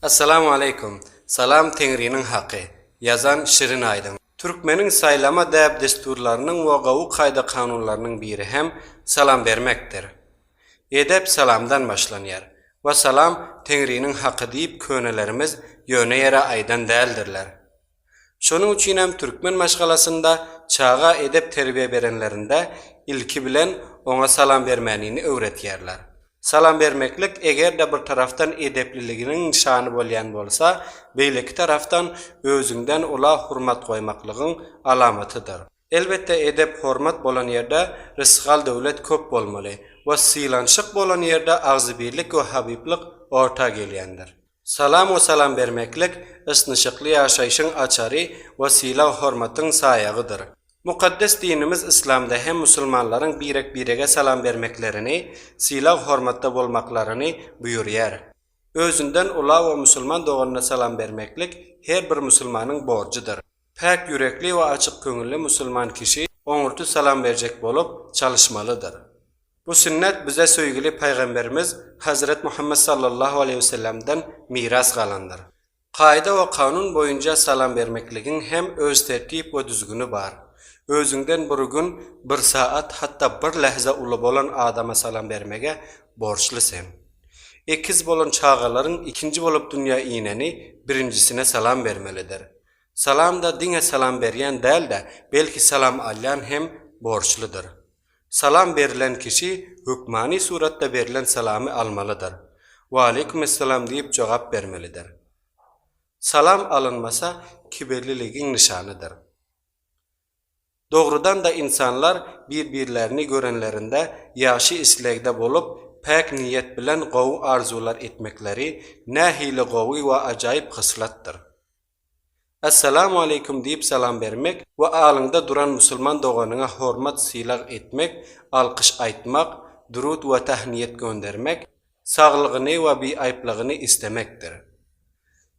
Assalamu aleykum. Salam Teňriniň haky. Ýazan şirin aýdym. Türkmeniň saýlama däp-dessurlarynyň we gowy kaýda-kanunlarynyň biri hem salam bermekdir. Edep salamdan başlanýar. We salam Teňriniň haky diýip könelerimiz ýöne ýere aýdan däldirler. Şonuň üçin hem türkmen maşgalasynda çaga edep-terbiýe berenlerinde ilki bilen oňa salam bermänini öwredýärler. Salam bermeklik eger-de bir tarapdan edepliliginiň nyşany bolýan bolsa, beýleki tarapdan özüňden ula hormat goýmaklygyň alamatydyr. Elbetde edep-hormat bolan ýerde rysgal-döwlet köp bolmaly we sylanşyk bolan ýerde agzybirlik we habyblyk orta gelýändir. Salam we salam bermeklik ysnyşykly ýaşaýşyň açary we sylag-hormatyň saýagydyr. Mukaddes dinimiz Yslamda hem musulmanlaryň birek-birege salam bermeklerini, sylag-hormatda bolmaklaryny buýurýar. Özünden ula we musulman doganyna salam bermeklik her bir musulmanyň borjudyr. Päk ýürekli we açyk köňülli musulman kişi oňurty salam berjek bolup, çalyşmalydyr. Bu sünnet bize söýgüli Pygamberimiz Hezret Muhammet sallallahu aleýhi wesellemden miras galandyr. Kaýda we kanun boýunja salam bermekligiň hem öz tertip we düzgüni bar. Özüňden bir gün, bir saat, hatda bir lähze uly bolan adama salam bermege borçly sen. Ekiz bolan çagalaryň ikinji bolup dünýä ineni birinjisine salam bermelidir. Salamda diňe salam berýän däl-de, belki salam alýan hem borçludyr. Salam berlen kişi hökmany suratda berlen salamy almalydyr. Waleýkumessalam diýip jogap bermelidir. Salam alynmasa kibirliligiň nyşanydyr. Dogrudan-da ynsanlar bir-birlerini görenlerinde ýagşy islegde bolup, päk niýet bilen gowy arzuwlar etmekleri nähili gowy we ajaýyp hyslatdyr! Assalamu aleýkum diýip salam bermek we alyňda duran musulman doganyňa hormat-sylag etmek, alkyş aýtmak, durut we tahniýet göndermek, saglygyny we biaýplygyny islemekdir.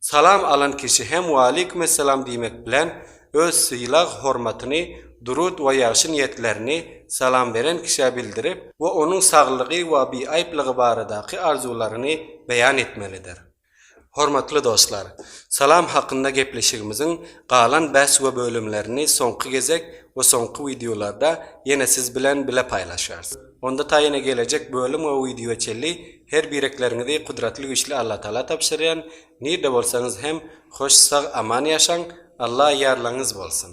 Salam alan kişi hem Waleýkumessalam diýmek bilen öz sylag-hormatyny, durud we ýagşy niýetlerini salam beren kişä bildirip we onuň saglygy we biaýplygy baradaky arzuwlaryny beýan etmelidir. Hormatly dostlar! Salam hakynda gepleşigimiziň galan bäs we bölümlerini soňky gezek we soňky wideolarda ýene siz bilen bile paýlaşarys. Onda ta ýene gelejek bölüm we wideoa çenli her birekleriňizi Kudratly Güýçli Allatagala tabşyrýan, nirde bolsaňyz hem hoş sag aman ýaşaň, Alla ýarlaňyz bolsun!